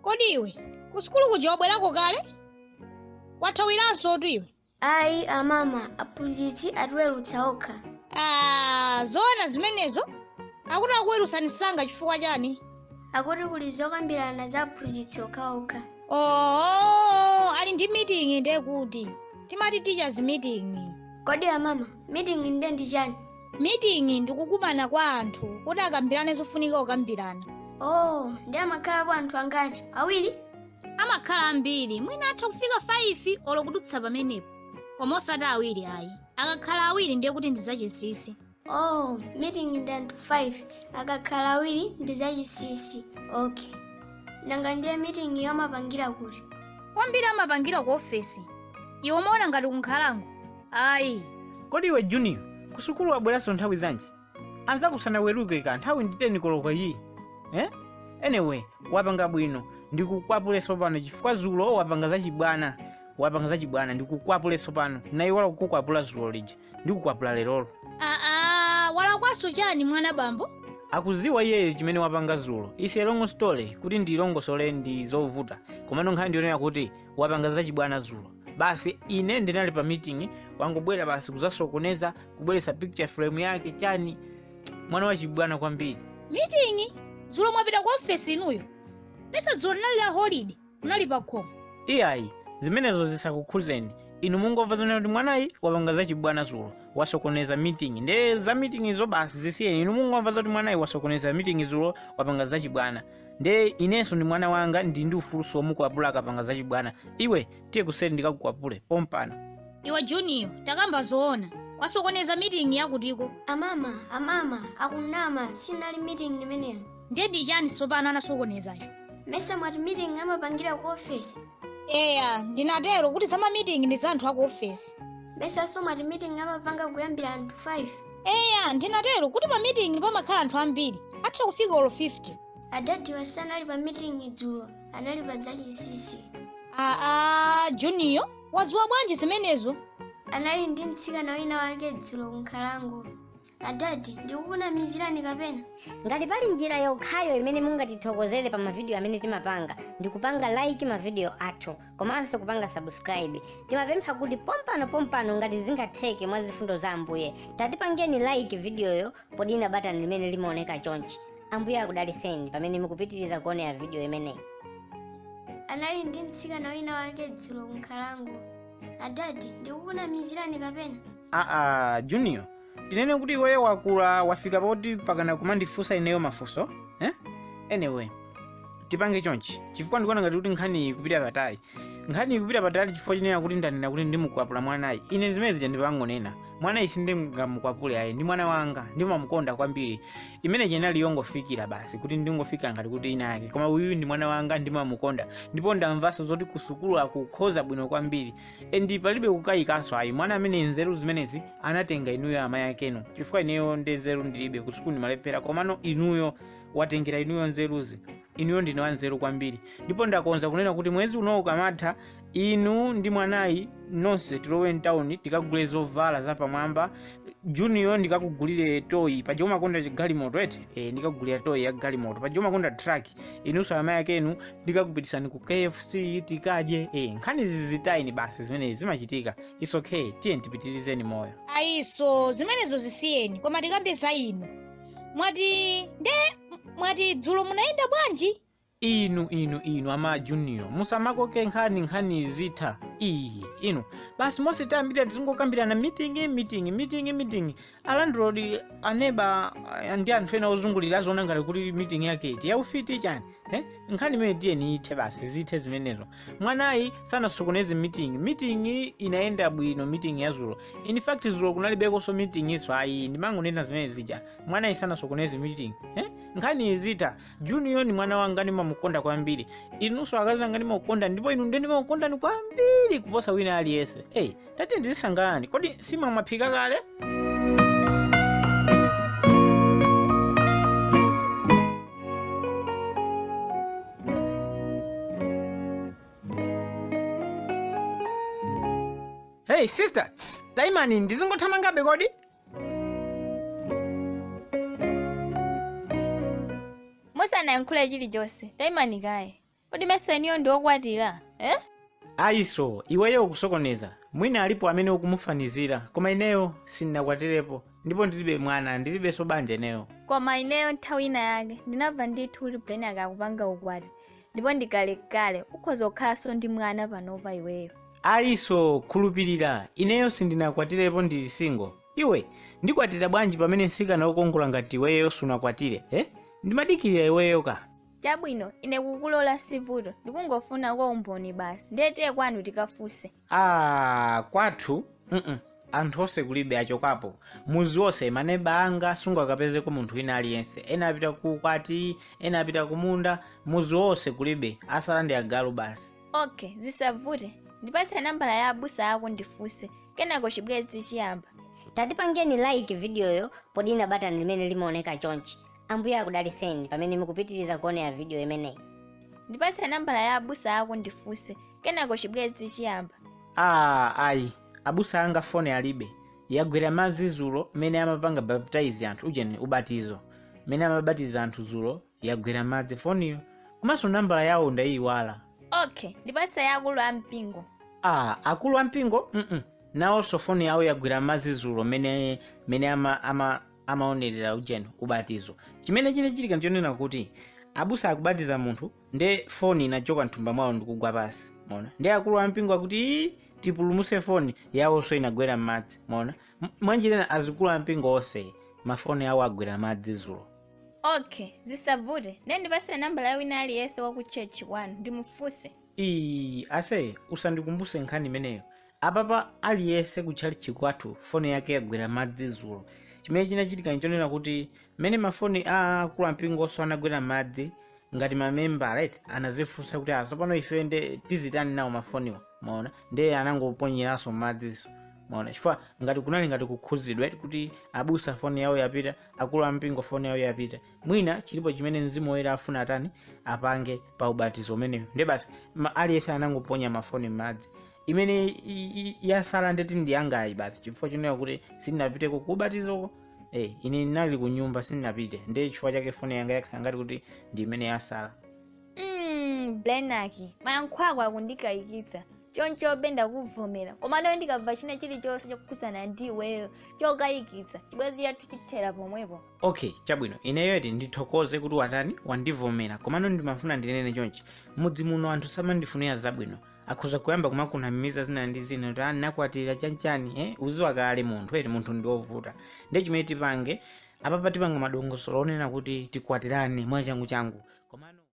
kodi iwe kusukulu kuja wabwerako kale wathawiranso tu iwe Ayi amama, aphunzitsi atiweruts​a okha. Ah, zoona zimenezo? Akuti akuwerutsani msanga chifukwa chani? Akuti kuli zokambirana za aphunzitsi okhaokha. Oh, ali ndi meeting nde kuti. Timati teachers meeting. Kodi amama, meeting nde ndi chani? Meeting ndi kukumana kwa anthu kuti akambirane zofunika kukambirana. Oh, ndi amakhalapo anthu angati? Awiri? amakhala ambiri mwina atha kufika 5 olo kudutsa pamenepo koma osati awiri ayi akakhala awiri ndiye kuti ndi zachinsinsi oh meeting ndi anthu 5 akakhala awiri ndi zachinsinsi okay nanga ndiye meeting iyo amapangira kuti kwambiri amapangira ku ofesi iwe umaona ngati kunkhalango ayi kodi iwe junior kusukulu wabweranso nthawi zanji anzako sanaweruke ka nthawi ndi 10 koloko iyi eh? anyway wapanga bwino ndikukwapule sopano chifukwa zulo wapanga zachibwana wapanga zachibwana ndikukwapule sopano naiwala kukukwapula zulo lija ndikukwapula lerolo aa walakwaso chani mwana bambo akuziwa iyeyo chimene wapanga zulo is a long story kuti ndilongosole ndi zovuta komano nkhani ndiyonena kuti wapanga zachibwana zulo basi ine ndinali pa meeting wangobwera basi kuzasokoneza kubweretsa picture frame yake chani mwana wachibwana kwambiri meeting dzulo mwapita ku ofesi inuyo mesa dzulo linali la holiday munali pa khomo iyayi zimenezo zisakukhuzeni inu mungomva zonena kuti mwanayi wapanga zachibwana zulo wasokoneza meeting nde za meeting izo basi zisiyeni inu mungomva zoti mwanayi wasokoneza meeting zulo wapanga zachibwana nde inenso ndi mwana wanga ndili ndi ufuluso womukwapula akapanga zachibwana iwe tiye kuseri ndikakukwapule pompano iwe juniyo takamba zoona wasokoneza meeting yakutiko amama amama akunama sinali meeting imeneyo ndiye ndi chani tsopano anasokonezacho mesa mwati meeting amapangira ku ofesi eya ndinatero kuti za ma meeting ndi za anthu aku ofesi mesa so mwati meeting amapanga kuyambira anthu 5 eya ndinatero kuti pa meeting pamakhala anthu ambiri atha kufika olo 50 adadi sanali pa meeting dzulo anali pa zachinsinsi aa juniyo wadziwa bwanji zimenezo anali ndi mtsikana wina wake dzulo kunkhalango adadi ndikukunamizirani kapena ngati pali njira yokhayo imene mungatithokozere pa mavidiyo amene timapanga ndi kupanga like mavidiyo athu komanso kupanga subscribe timapempha kuti pompano pompano ngati zingatheke mwa zifundo za ambuye tatipangeni like vidiyoyo podina batani limene limaoneka chonchi ambuye akudaliseni pamene mukupitiriza kuonera vidiyo imeneyi munali ndi mtsikana wina wake dzulo kunkhalango adadi ndikukunamizirani kapena aa junior tinene kuti iweyo wakula wafika poti pakana ukumandifunsa ineyo mafunso eh? anyway tipange chonchi chifukwa ndikuona ngati kuti nkhani ikupita patali nkhani ikupita patali chifukwa chonena kuti ndanena kuti ndimukwapula mwanayi ine zimene zija ndipangonena mwanayi sindingamukwapule ayi ndi mwana wanga ndimamukonda kwambiri imene ija inali yongofikira basi kuti ndingofikira ngati kuti ina yake koma uyu ndi mwana wanga ndimamukonda ndipo ndamvanso zoti kusukulu akukhoza bwino kwambiri and palibe kukayikanso ayi mwana amene nzeru zimenezi anatenga inuyo amayi akenu chifukwa ineyo ndi nzeru ndilibe kusukulu ndimalephera komano inuyo watengera inuyo nzeruzi inuyo ndinu wanzeru kwambiri ndipo ndakonza kunena kuti mwezi unowu ukamatha Inu ndi mwanayi nonse tilowe mtauni tikagule zovala zapamwamba. Junior ndikakugulire toyi paja umakonda galimoto eti e, ndikakugulira toyi ya galimoto paja umakonda truck. Inunso amayi akenu ndikakupitisani ku KFC tikadye. E, nkhanizi zitayeni basi zimenezo zimachitika. It's okay, tiyeni tipitirizeni moyo. ayiso zimenezo zisiyeni koma tikambe za inu mwati nde mwati dzulo munayenda bwanji Inu, inu, inu ama junior, musamakoke nkhani nkhani zizitha. Iyi, inu. Basi mose tayambiramuja tizingokambirana meeting, meeting, meeting, meeting. Alandrodi aneba ah, ndi anthu ena ozungulira aziona ngati kuti meeting yake iti yaufiti chani. Eh? Nkhani imene tiyeni ithe basi zithe zimenezo. Mwanayi sanasokoneze meeting. Meeting inayenda bwino meeting ya dzulo. In fact dzulo kunalibekonso meeting inso ayi ndimangonena zimene zija. Mwanayi sanasokoneze meeting. Eh? Nkhani izitha junior ni mwana wanga ndimamukonda kwambiri inunso akazi anga ndimakukondani ndipo inu nde ndimakukondani kwambiri kuposa wina aliyense eyi tatiyeni dzisangalalani kodi nsima mwaphika kale hey sister tayimani ndizingothamangabe kodi musanayankhule chilichonse tayimani kaye kodi mesa inuyo ndi okwatiwa eh? ayiso iweyo ukusokoneza mwina alipo amene ukumufanizira koma ineyo sindinakwatirepo ndipo ndilibe mwana ndilibenso banja ineyo koma ineyo nthawi ina yake ndinamva ndithu kuti Brian akupanga ukwati ndipo ndi kalekale ukhoza kukhalanso ndi mwana panopa iweyo ayi asee khulupirira ineyo sindinakwatirepo ndili single iwe ndikwatira bwanji pamene msikana wokongola ngati iweyo sunakwatire eh? ndimadikirira iweyo ka chabwino ine kukulola sivuto ndikungofuna kwa umboni basi nde tiye kwanu tikafunse Aaa kwathu mm anthu onse kulibe achokapo muzi onse maneba anga sungakapezeko munthu wina aliyense ena apita ku ukwati ena apita kumunda muzi onse kulibe asala ndi agalu basi okay zisavute ndipase nambala ya abusa ako ndifunse kenako chibwezi chiyamba tatipangeni like vidiyoyo podina batani limene limaoneka chonchi Ambuye akudalitseni pamene mukupitiriza kuonera vidiyo imeneyi. ndipatse nambala ya abusa ako ndifunse kenako chibwenzi chiyamba aa ayi abusa anga foni alibe yagwera mmadzi zulo mmene amapanga baptize anthu ujeni ubatizo mmene amabatiza anthu zulo yagwera mmadzi foniyo komanso nambala yawo ndayiwala okay ndipatse ya akulu a mpingo aa akulu ampingo mm nawonso foni yawo yagwera mmadzi zulo mmene mmene ama, ama amaonerera ujeni ubatizo chimene chinachitika nchonena kuti abusa akubatiza munthu nde foni inachoka mthumba mwawo ndikugwa pasi mwaona nde akulu ampingo akuti "Ii, tipulumuse foni yawonso inagwera m'madzi mwaona M- mwanjira ina azikulu ampingo onse mafoni awo agwera m'madzi zulo okay zisavute ndiye ndipase nambala ya wina aliyense wa ku church kwanu ndimufunse Ii, ase usandikumbuse nkhani imeneyo Apapa aliyese ku tchalichi kwathu foni yake yagwera m'madzi zulo chimene chinachitika nchonena kuti mene mafoni a akulu ampingoso anagwera m'madzi ngati ma membala eti anazifunsa kuti ah sopano ife nde tizitani nawo mafoniwa mwaona nde anangoponyeraso m'madziso mwaona chifukwa ngati kunali ngati kukhuzidwa eti kuti abusa foni yawo yapita akulu ampingo foni yawo yapita mwina chilipo chimene mzimu woyera afuna atani apange pa ubatizo umenewu nde basi ma- aliyese anangoponya mafoni m'madzi imene i- i- yasala ndeti ndi yangayi basi chifukwa chonena kuti sindinapiteko ku ubatizoko eh, ine ndinali ku nyumba sindinapite ndiye chifukwa chake foni yanga yakhala ngati kuti ndi imene yasala Mm, blenaki mayankho ako akundikayikitsa choncho be ndakuvomera komano ndikamva china chilichonse chokhudzana ndi iweyo chokayikitsa chibwenzi chathu chithera pomwepo okay chabwino ineyo eti ndithokoze kuti watani wandivomera komano ndimafuna ndinene chonchi mudzi muno anthu samandifunira zabwino akhoza kuyamba kumakunamiza zina ndi zina kuti nakwatira chanchani eh? uziwa kale munthu eti munthu ndi wovuta ndiye chimene tipange apapa tipanga madongosolo onena kuti tikwatirane mwachangu changu komano